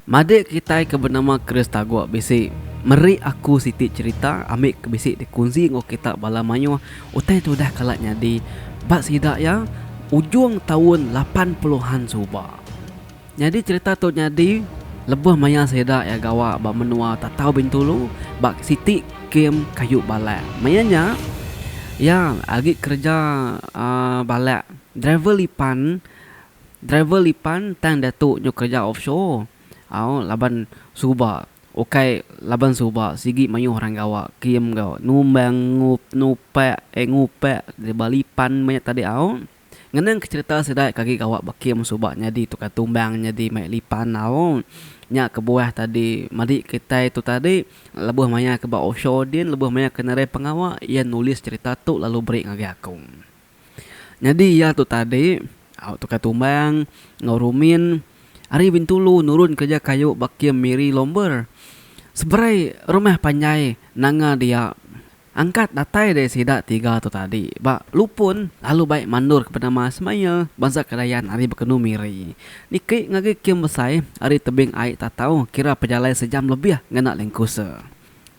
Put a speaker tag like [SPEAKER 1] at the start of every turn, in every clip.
[SPEAKER 1] Madik kitai ke benama Chris Tagok bisi meri aku siti cherita ami ke bisi dikunsi enggau kita bala mayuh utai ti udah kala nyadi ba sida iya ujung taun lapan puluhan suba. Nyadi cherita tu nyadi lebuh maya sida iya gawa ba menua Tatau Bintulu ba siti kem kayu balak. Maya nya iya agi kereja aaa balak driver lipan driver lipan tang diatu nyau kereja offshore au laban suba ukai laban suba sigi mayuh orang gawa kem gawa numbang nupak eh ngupak ba lipan maya tadi au. Ngenang ke cerita sida ke agi gawa ba kem suba nyadi tukar tumbang nyadi mai lipan au nya kebuah tadi madi kitai tu tadi lebuh maya ke ba offshore din lebuh maya ke nadai pengawa iya nulis cerita tu lalu beri ngagai aku. Nyadi iya tu tadi au tukar tumbang enggau rumin ari bintulu nurun kereja kayu ba kem miri lomber seberai rumah panjai nanga dia Angkat datai deh sida tiga tu tadi ba lupun lalu baik mandor ke penama Smail bansa Kedayan ari Bekenu Miri. Niki ngagi Kim Besai ari tebing ai Tatau kira pejalai sejam lebih ngena lingkuse.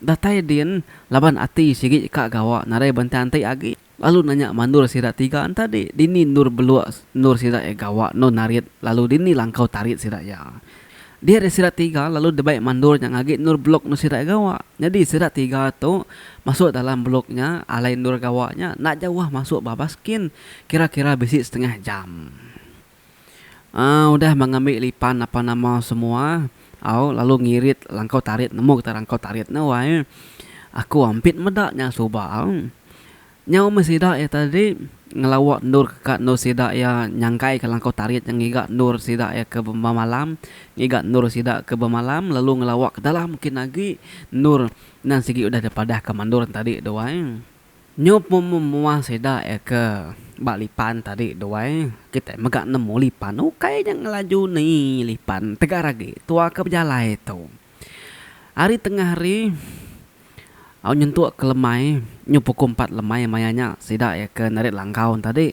[SPEAKER 1] Datai din laban ati sigi ka gawa nadai bentang ti agi lalu nanya mandor sida tiga entadi dini endor belok endor sida iya gawa endur narit lalu dini langkau tarit sida iya. Dia ari sida tiga lalu debai mandur nya ngagi endur blok endur sida gawa. Nyadi sida tiga tu masuk dalam blok nya alai endur gawa nya enda jauh masuk ba baskin kira-kira bisi setengah jam. Aaa udah meh ngambi lipan apan nama semua au lalu ngirit langkau tarit nemu kita langkau tarit nya wai aku ampit meda nya suba au. Nyau meh sida iya tadi ngelawa endur ke ka endur sida iya nyangkai ke langkau tarit nya ngiga endur sida iya ke bemalam ngiga endur sida ke bemalam lalu ngelawa ke dalam kin agi endur nan sigi udah dipadah ke mandur tadi tu ai. Nyu pun meh mua sida iya ke ba lipan tadi tu ai kitai mega nemu lipan ukai nya ngelaju ni lipan tegar agi tua ke bejalai tu. Ari tengah hari. Au nyentuk ke lemai nyu puku empat lemai maya nya sida iya ke narit langkau enta dik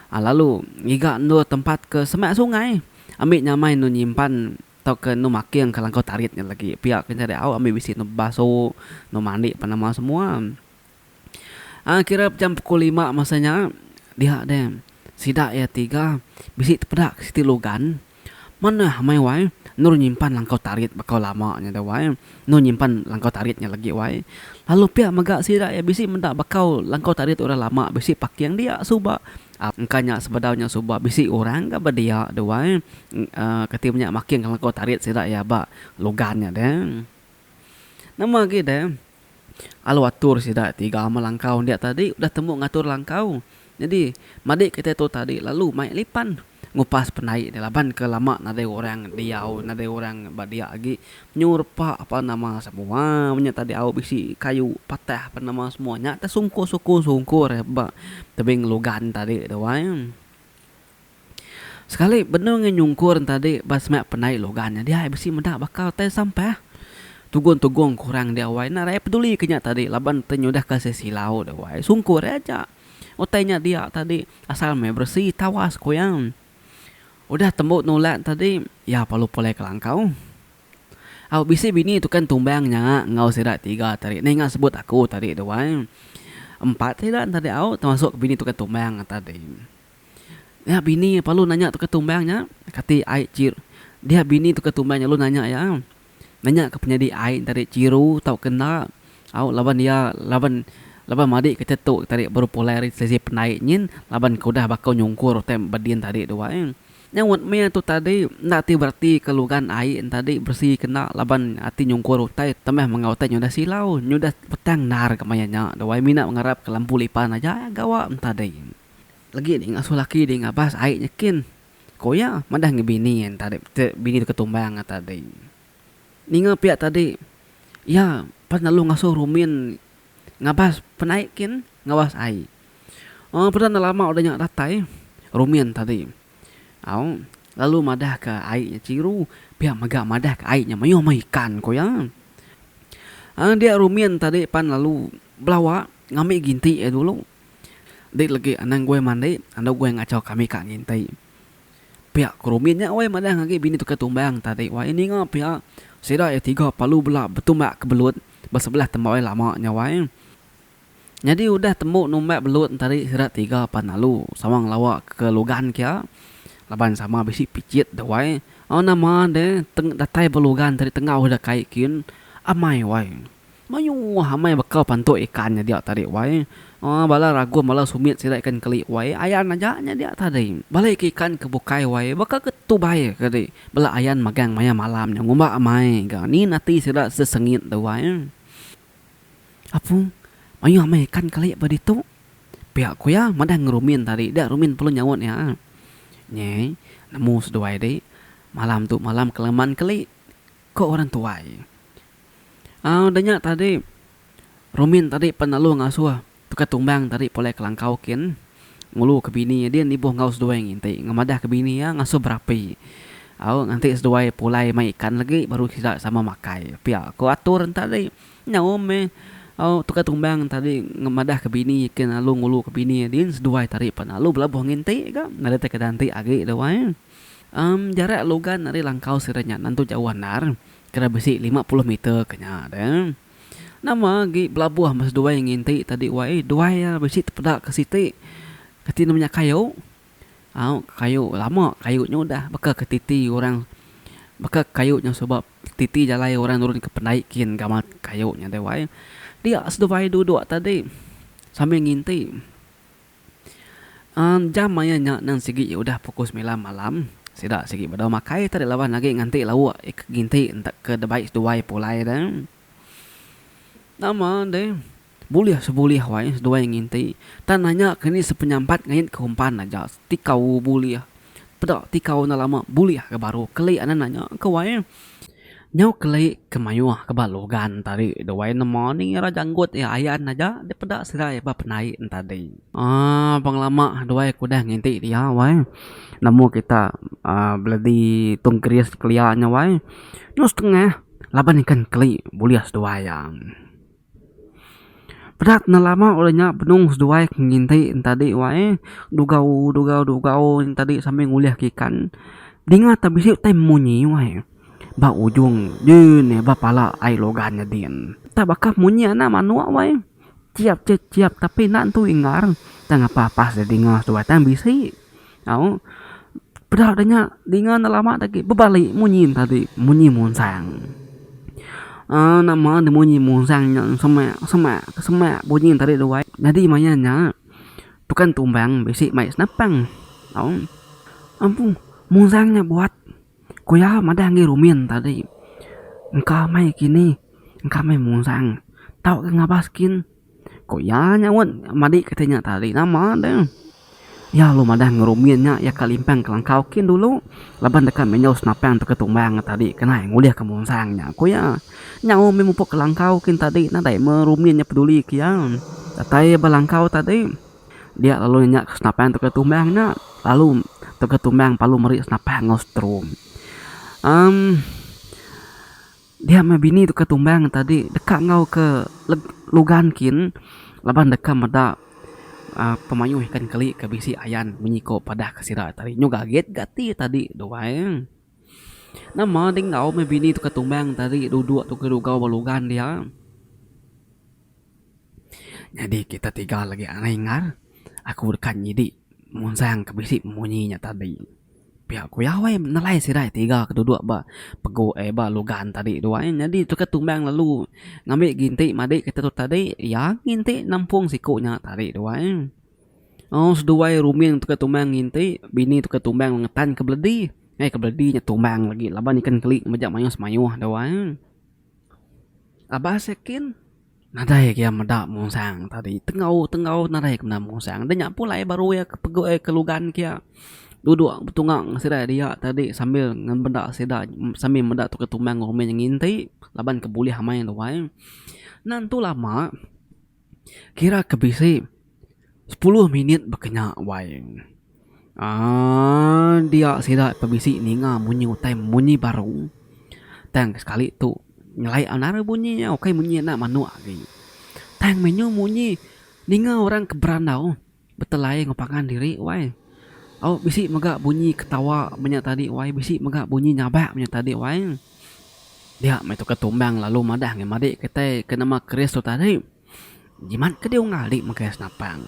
[SPEAKER 1] lalu ngiga endur tempat ke semak sungai ambi nyamai endur nyimpan tau ke endur making ke langkau tarit nya lagi pia ke nyadi au ambi bisi endur bebasu endur mandi apan nama semua a kira jam puku lima masa nya dia deh sida iya tiga bisi tepeda siti lugan. Manah amai wai, endur nyimpan langkau tarit bakau lama nya deh wai, endur nyimpan langkau tarit nya lagi wai. Lalu pia mega sida iya bisi meda bakau langkau tarit orang lama bisi paking dia suba. Engka nya sebedau nya suba bisi orang ga ba dia deh wai uhh kati inya making langkau tarit sida iya ba logan nya deh. Nama agi deh. Alu atur sida ti ga amat langkau enda tadi udah tembu ngatur langkau. Nyadi madi kitai tu tadi lalu mai lipan ngupas penai dia laban ke lama nadai orang diau nadai orang ba dia agi nyu repa apan nama semua menya tadi au bisi kayu patah apan nama semua nya te sungkur sungkur sungkur ba tebing lugan tadi tu ai. Sekali benung ngi nyungkur entadi ba semak pendai logan nya diai bisi meda baka utai sampah. Tugung-tugung ke orang dia wai enda rakyat peduli ke nya tadi laban ti nyudah ke si silau dia wai sungkur aja utai nya dia tadi asal meh beresi tawas ku iya. Udah tembu nulak tadi iya perlu pulai ke langkau. Au bisi bini tukang tumbang nya enggau sida tiga tadi ninga sebut aku tadi tu ai. Empat sida tadi au termasuk bini tukang tumbang tadi. Nya bini iya parlu nanya tukar tumbang nya, kati ai chir. Dia bini tukar tumbang nya lalu nanya iya, nanya ka penyadi ai nya tadi chiru tauka enda. Au laban iya laban laban madi ke tetu tadi baru pulai ari sesi pendai nyin laban ke udah baka nyungkur utai ba din tadi tu ai. Nya wet meh tu tadi enda ti bereti ke lugan ai nya tadi beresi ke enda laban ati nyungkur utai tambah mega utai nya udah silau, nya udah petang endar ka maya nya tu ai. Mina ngarap ka lampu lipan aja gawa nya tadi. Legi deh ngasuh laki deh ngabas ai nyekin. Ko iya madah ngi bini iya enta deh peti bini tu ketumbang ata deh. Ninga pia tadi iya pas lalu ngasuh rumin ngabas penai kin ngabas ai. Aw peda enda lama udah nya datai rumin tadi. Aw lalu madah ka ai nya chiru pia mega madah ka ai nya mayuh meh ikan ko iya. Aw dia rumin tadi pan lalu belawa ngambi ginti iya dulu. Enti legi anang guai mandi, andu guai ngachau kami ka nginti. Pia ku Rumin nya wai madah ngagi bini tukar tumbang tadi wai ninga pia sida iya tiga palu bela betumbak ke belut ba sebelah temba iya lama nya wai. Nyadi udah tembu numbak belut entadi sida tiga pan lalu sama ngelawa ke lugan kia laban sama bisi pichit deh wai. Au nama deh teng datai ba lugan tadi tenggau ida kai kin amai wai. Mayuh amai bekau pantuk ikan nya dia tadi wai. Aa bala ragum bala sumit sida ikan keli wai ayan aja nya dia tadi. Bala ika ikan ke bukai wai baka ke tubai ke di bela ayan magang maya malam nya ngumba amai ga nyin ati sida sesengit tu wai. Apung, mayuh amai ikan keli ba ditu. Pia ku iya madang ngan rumin tadi dia rumin perlu nyaut iya. Nyi nemu seduai di malam tu malam kelaman keli ko orang tuai. Au da nya tadi Rumin tadi pan lalu ngasuh Tukar Tumbang tadi pulai kelangkau kin ngulu ke bini iya din ibuh enggau seduai nginti ngemadah ke bini iya ngasuh berapi au nganti seduai pulai mai ikan lagi baru sida sama makai pia ko atur tadi nyau meh au Tukar Tumbang tadi ngemadah ke bini kin lalu ngulu ke bini iya din seduai tadi pan lalu belabuh nginti ga ngeda ti ke agi da wai am jarak logan ari langkau sida nya nan tu jauh andar. Kira bisi lima puluh meter ke nya deh. Nama agi belabuh meh seduai nginti tadi wai eh. Duai iya bisi tepeda ke siti. Kati nama nya kayu. Au kayu lama kayu nya udah baka ke titi orang baka kayu nya suba titi jalai orang nurun ke pendai kin gamat kayu nya deh wai. Dia seduai duduk tadi sambil nginti. Jam maya nya nang sigi iya udah pukul semilan malam. Sida sigi bedau makai tadi laban agi nganti lauk ke ginti entek ke debai seduai pulai deh. Nama deh bulih sebulih wai seduai nginti tang nanya ke ni sepenyampat ngait ke umpan aja tikau bulih peda tikau enda lama bulih ga baru keli anan nanya ke wai. Nyau keli ke mayuh ke ba logan tadi duai nemu ni ira janggut iya ayan aja dia peda serai ba penai en tadi. Aaa pengelama duai ke udah nginti dia wai nemu kita aaa beledi tung keris kelia nya wai nyau setengah laban ikan keli bulih seduai iya. Pedak enda lama udah nya benung seduai ke nginti en tadi wae dugau dugau dugau en tadi sambil ngulih ke ikan dinga te bisi utai munyi wae ba ujung ye ne ba pala ai logan ne din ta baka munyi anak manuk wae ciap ce ciap tapi enda tentu ingar tang ngapa pas dinga seduai tang bisi. Au peda deh nya dinga enda lama tadi bebali munyi tadi munyi munsang aaa nama ne munyi munsang nya semak semak semak bunyi ne tadi duai nyadi maya nya tukang tumbang bisi mai senapang au ampun munsang nya buat ku iya madah ngi rumin tadi engka mai kini engka mai munsang tauka ngabas kin. Ku iya nyaut madi kati nya tali. Nama deh. Iya lalu madah ngerumin nya iya ka limpang kelangkau kin dulu laban deka menyau senapang teka tumbang ngan tadi ke nai ngulihka munsang nya, ku iya. Nyau mih mupuk kelangkau kin tadi nadai meh rumin nya peduli ke iya. Datai ba langkau tadi, dia lalu nanya ke senapang teka tumbang nya lalu teka tumbang lalu meri senapang enggau setrum. Amm. Dia meh bini tu ke tumbang tadi deka enggau ke lugan kin laban deka meda uhh pemayuh ikan keli ke bisi ayan menyiko padah ke sida tadi nyu gagit ga ti tadi tu ai. Nama ding enggau meh bini tu ke tumbang tadi dudok tu ke dugau ba lugan dia. Nyadi kita tiga lagi ngai ngar aku deka nyidi munsang ke bisi munyi nya tadi. Pia ku Yahweh nelai sirai tiga ke duduk ba pegu eh ba lugan tadi tu ai. Nyadi tu ke tumbang lalu ngambi ginti madi kita tu tadi iya nginti nampung siku nya tadi tu ai. Au seduai rumin tu ke tumbang nginti bini tu ke tumbang ngetan ke beledi. Ai ke beledi nya tumbang lagi laban ikan keli mejak mayuh semayuh tu ai. Abas ya kin. Nadai ke iya meda mungsang tadi. Tengau-tengau nadai ke meda mungsang. Nya pulai baru iya ke pegu iya ke lugan ke iya duduk betunga ngan sida dia tadi sambil ngan benda sida sambil meda tauka tumbang ngan rumih nya nginti laban ke bulih amai luai. Nan tu lama kira ke bisi sepuluh minit ba kinya wai. Aaa dia sida ke bisi ninga munyi utai munyi baru tang sekali tu nyelai anang bunyi iya ukai munyi enda manuk agi tang meh nyu munyi ninga orang ke berandau betelai enggau pangan diri wai au bisi mega bunyi ketawa menya tadi wai bisi mega bunyi nyabak menya tadi wai dia meh tu ke tumbang lalu madah ngan madik kitai ke nama keris tu tadi. Jimat ke diunggah ali mega senapang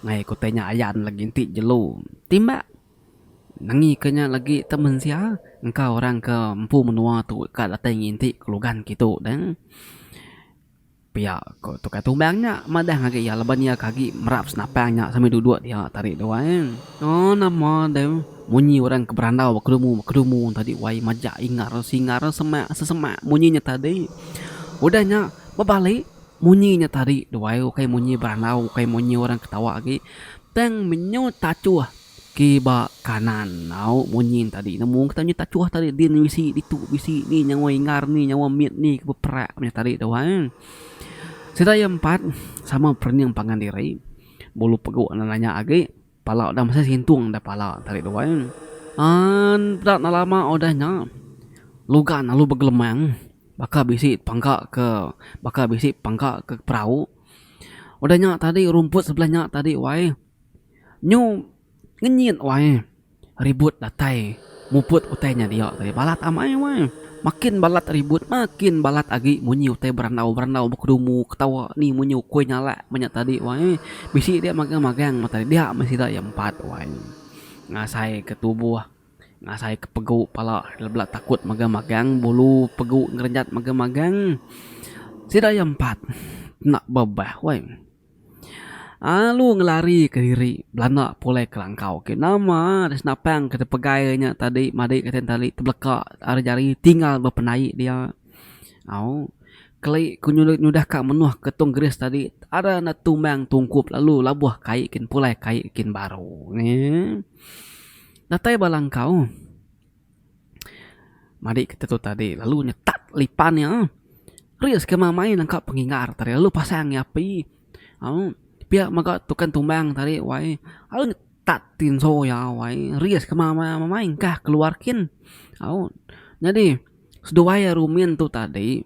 [SPEAKER 1] ngagai ku tai nya ayan legi enti jelu timba nengika nya legi te mensia engka orang ke empu menua tu ka datai nginti kelugan kitu deh pia ko tukar tumbang nya madah ngagai iya laban iya ke agi merap senapang nya sambil duduk dia tadi tu ai ooh nama deh munyi orang ke berandau ba kedumu ba kedumu tadi wai majak ingar singar semak sesemak munyi nya tadi udah nya bebali. Munyi nya tadi duai ukai munyi berandau ukai munyi orang ketawa agi tang menyut tachuh ke ba kanan enggau munyi nya tadi nemu kita menyut tachuh tadi din bisi ditu bisi ni nyawa ingar ni nyawa mit ni ke beperak nya tadi duai. Sida ke empat sama perening pangan diri bolu pegu nanya agi. Pala udah mesai sintung deh pala tarik duai an peda enda lama udah nya lugan lalu begelemang baka bisi pangka ke baka bisi pangka ke perau udah nya tadi rumput sebelah nya tadi wai nyu ngenyit wai. Ribut datai muput utai nya dia tadi balat amai weh. Makin balat ribut makin balat agi munyi utai berandau-berandau bekedumu ketawa ni munyi ukui nyalak menya tadi weh. Bisi dia magang-magang meh tadi dia meh sida iya empat wai ngasai ke tubuh ngasai ke pegu pala bela takut magang-magang bulu pegu ngerenjat magang-magang sida iya empat enda bebah weh. Alu ngelari ke diri belanda pulai ke langkau ke nama deh senapang ke tepegai inya tadi madik kitai tadi tebelaka ari jari tinggal bepenai dia au keli ku nyudah ka menoh ke tong gris tadi ada enda tumang tungkup lalu laboh kai kin pulai kai kin baru eee datai ba langkau. Madi kita tu tadi lalu nyetak lipan iya. Risk ke mamain nangka pengingar tadi lalu pasang iya api. Au pia mega tukang tumbang tadi wai au nyetak tinso iya wai risk ke mamain engkah keluar kin. Au nyadi seduai rumin tu tadi.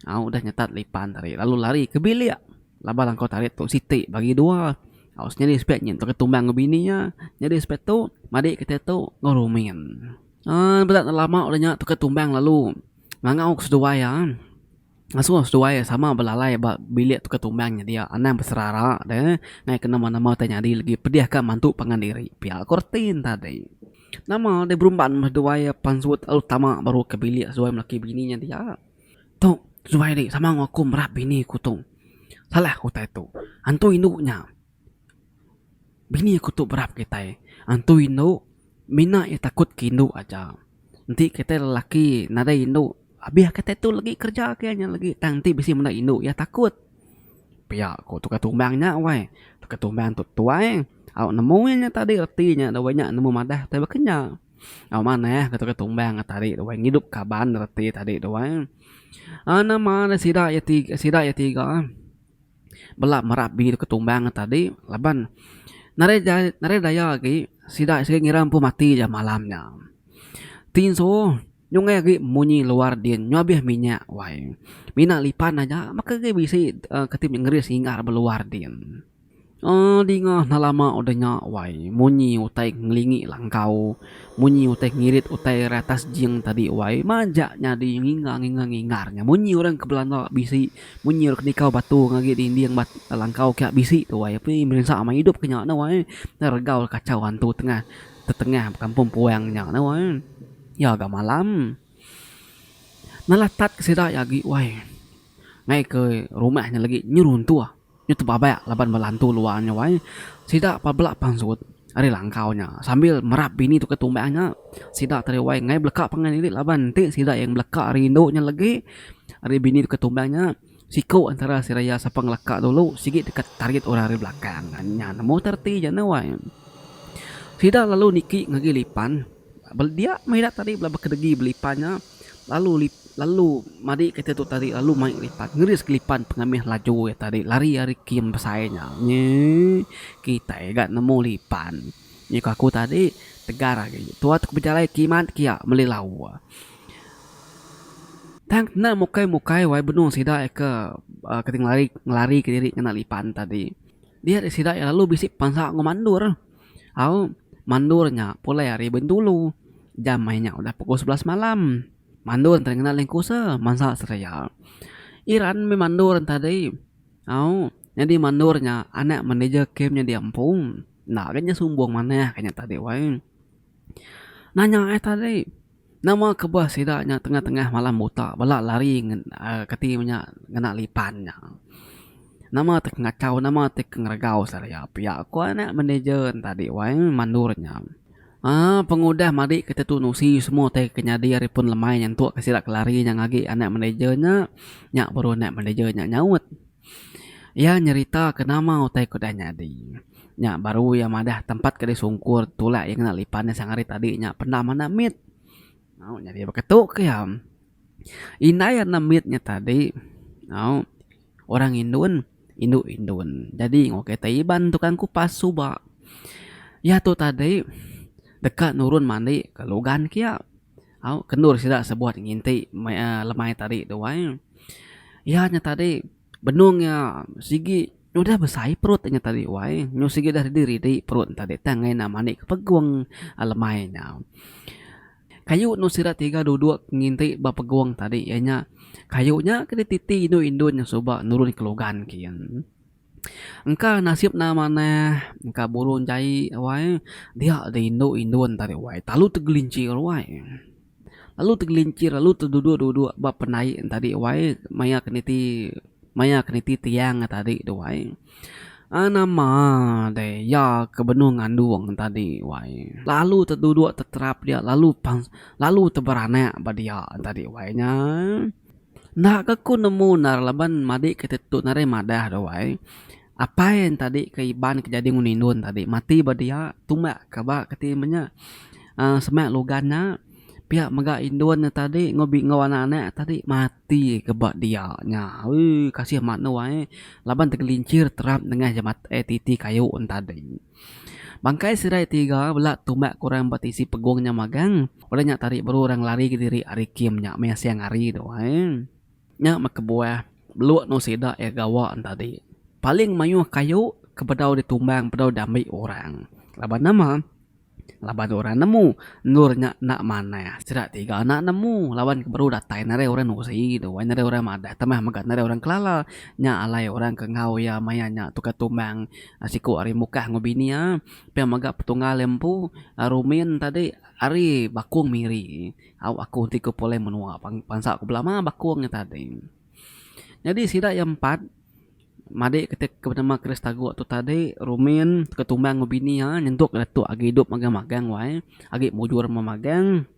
[SPEAKER 1] Au udah nyetat lipan tadi lalu lari ke bilik laban langkau tarit tu siti bagi dua. Au senyadi sepek nyin baka tumbang enggau bini iya. Nyadi sepek tu madi ke tai tu enggau rumin. Ai bela enda lama udah nya tukar tumbang lalu ngangau ke seduai iya. Ngasuh seduai iya sama belalai ba bilik tukar tumbang nya dia anang beserara deh ngaih ke nama nama tai nyadi legi pedih ka mantu pangan diri pia ko reti ne tadi. Nama deh berumban meh seduai iya pan suwe tau tama baru ke bilik seduai melaki bini nya dia. Tu, suai ri sama enggau aku merap bini aku tu. Salah aku utai tu. Antu indu nya, bini aku tu berap kitai. Antu indu, mina iya takut ke indu aja. Enti kitai lelaki nadai indu, abih kitai tu lagi kerja ke nya lagi tang enti bisi menda indu iya takut. Pia ku tukar tumbang nya weh. Tukar tumbang tu tuai, au nemu iya nya tadi reti nya dawai nya nemu madah utai baka nya. Au manah ketuka tumbang ke tadi tu ai ngidup kaban reti tadi tu ai. Au nama ne sida iya ti sida iya tiga ai bela merap bini ke tumbang ke tadi laban nadai ja nadai daya agi sida sida ngira empu mati ja malam nya. Ti insu nyungkai agi munyi luar din nyabih minyak wai. Mina lipan aja maka agi bisi ti ngeris singa ba luar din. Aa dinga hna lama udah nya wai munyi utai ngelingi langkau munyi utai ngirit utai ari atas jing tadi wai majak nyadi nginga nginga ngingar nya munyi orang ke belanda bisi munyi orang ke nikau batu ngagi dinding ba langkau kiak bisi tu wai ape merinsa meh idup ke nya tu wai nya regau kachau antu tengah tetengah kampung puang nya tu wai iya ga malam nelatat ke sida agi wai ngai ke rumah nya legi nyu runtuh. Nya tebabak laban bala antu luar nya wai sida pebela pansut ari langkau nya sambil merap bini tukar tumbang nya sida tadi wai ngai beleka pangan diri laban enti sida yang beleka rindu nya legi ari bini tukar tumbang nya siku antara seraya sapa ngeleka dulu sigi deka tarit orang ari belakang nya nemu tu reti ja nya wai. Sida lalu niki ngagai lipan dia mih ida tadi bela kedegi belipan nya. Lalu lip lalu madi kereta tu tadi lalu mai lipan ngeris kelipan pengamih laju iya tadi lari ari kem besai nya nyi kitai ga nemu lipan nyi ku aku tadi tegar agi tuan tu bejalai kimet kiya meli lawa tang kena mukai mukai wai benung sida ke ngelari ngelari kediri ngena lipan tadi dia sida lalu bisi pansa enggau mandor. Au mandur nya pulai ari Bintulu. Jam ai nya udah pukul sebelas malam. Mandur enti ngena lengkusa mansa seria. Iran meh mandur enti tadi. Au nyadi mandur nya anak manager kem nyadi empu. Enda lagi nya sumbung manah ka nya tadi wai. Nanya ai tadi. Nama kebah sida nya tengah-tengah malam buta bela lari kati menya ngena lipan nya. Nama ti kengachau nama ti ke ngeregau sida iya pia ku anak manager nya tadi wai mandor nya. Aa pengudah madi ke tentu nusi semua ti ke nyadi ari pun lemai nyentuk ke sida ke lari nya agi anak manager nya nya baru anak manager nya nyaut. Iya nyeritaka nama utai ku dai nyadi. Nya baru iya madah tempat ke disungkur tulak iya ngena lipan iya sang hari tadi nya penda manah mit. Au nyadi baka tu ke iya. Indai anang mit nya tadi au orang indun indu indun nyadi enggau kereta iban tukang kupas suba. Iya tu tadi deka nurun mandi ke lugan kiya. Au, kendur sida sebuat nginti meh lemai tadi tu ai. Iya nya tadi benung iya sigi udah besai perut inya tadi wai. Benung sigi udah ridi-ridi perut ne tadi tang ngena mani ke pegung lemai nya. Kayu enu sida tiga duduk nginti ba pegung tadi iya nya kayu nya ke dititi indu-indu nya suba nurun ke lugan kiye. Engka nasib ne manah engka burung jai ruai dia deh indu indun tadi ruai telalu tegelincir ruai telalu tegelincir telalu teduduk duduk ba penai en tadi ruai maya ke niti maya ke niti tiang en tadi tu ruai ai nama deh iya ke benung ngandung en tadi ruai lalu teduduk teterap dia lalu pan lalu teberanak ba dia tadi ruai nya. Enda ke aku nemu ndar laban madi ke tetu narai madah doh wai apai ain tadi ke iban ke jadi ngun indon tadi mati ba dia tumbak ka ba keti iban nya aaa sema lugan nya pia mega indon nya tadi enggau anak anak nya tadi mati ka ba dia nya uu kasih mak nuai laban tegelincir terap nengah jemat eh titi kayu ntadi. Bangkai sirai tiga bela tumbak ke orang ba tisi pegung nya magang. Udah nya tari baru orang lari kediri ari kem nya meh siang hari tu ai. Nya meh kebuah beluk endur sida iya gawa tadi. Paling mayuh kayu ke bedau ditumbang bedau diambi orang. Laban nama? Laban orang nemu endur nya enda manah. Sida tiga enda nemu laban ke baru datai ne ari orang Nusi tu ai. Ne ari orang madah tambah mega ne ari orang Kelala. Nya alai orang ke enggau iya maya nya tukar tumbang. Siku ari Mukah enggau bini iya pia mega petunggal iya empu, Rumin tadi ari Bakung Miri. Au aku enti ku pulai menua bansa ku belama Bakung nya tadi. Nyadi sida iya empat madik kitai ke benama Chris Taguk tu tadi Rumin Tumbang enggau bini iya nyentuk iya tu agi idup magang magang wai agi mujur meh magang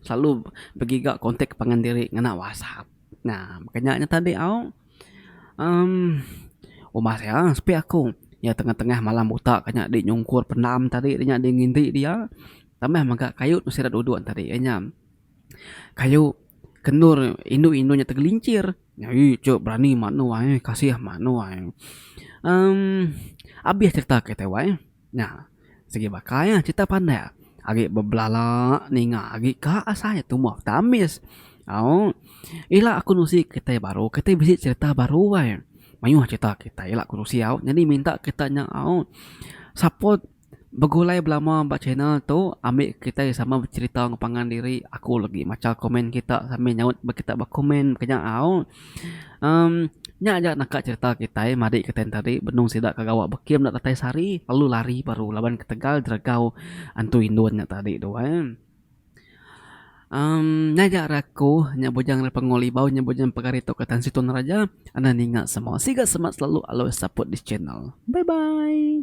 [SPEAKER 1] selalu begiga kontak pangan diri ngena WhatsApp. Nah maka nya tadi au. Uhm. Umbah nya, sepi aku. Nya tengah-tengah malam buta ka nya deh nyungkur pendam tadi nya deh nginti dia. Tambah mega kayu mesti ira duduk tadi iya nya. Kayu ke endur indu-indu nya tegelincir. Aii ije berani manu ai, kasih manu ai. Uhm. Abih serita kitai wai. Nya, sigi baka iya cerita pandak agi bebelala ninga agi ka asai tumoh peta ambis. Aung, ila aku nusi kitai baru kitai bisi cerita baru ai. Mayuh cerita kitai ila ku nusi au nyadi minta kita nya au support begulai belama ba channel tu ambi kitai sama becerita ngepangan diri aku legi macha komen kita sambil nyaut ba kita ba komen mega nya au. Umm nya aja naka cerita kitai marik kitai nya tadi benung sida ke gawa bekim enda datai sehari lalu lari baru laban ketegal jeregau antu indun nya tadi tu ai. Umm nya aja ari aku nya bujang ari Pengul Ibau nya bujang ari pegari tok Tan Sri Naraja enda ninga semua. Siga semak selalu always support this channel. Bye bye.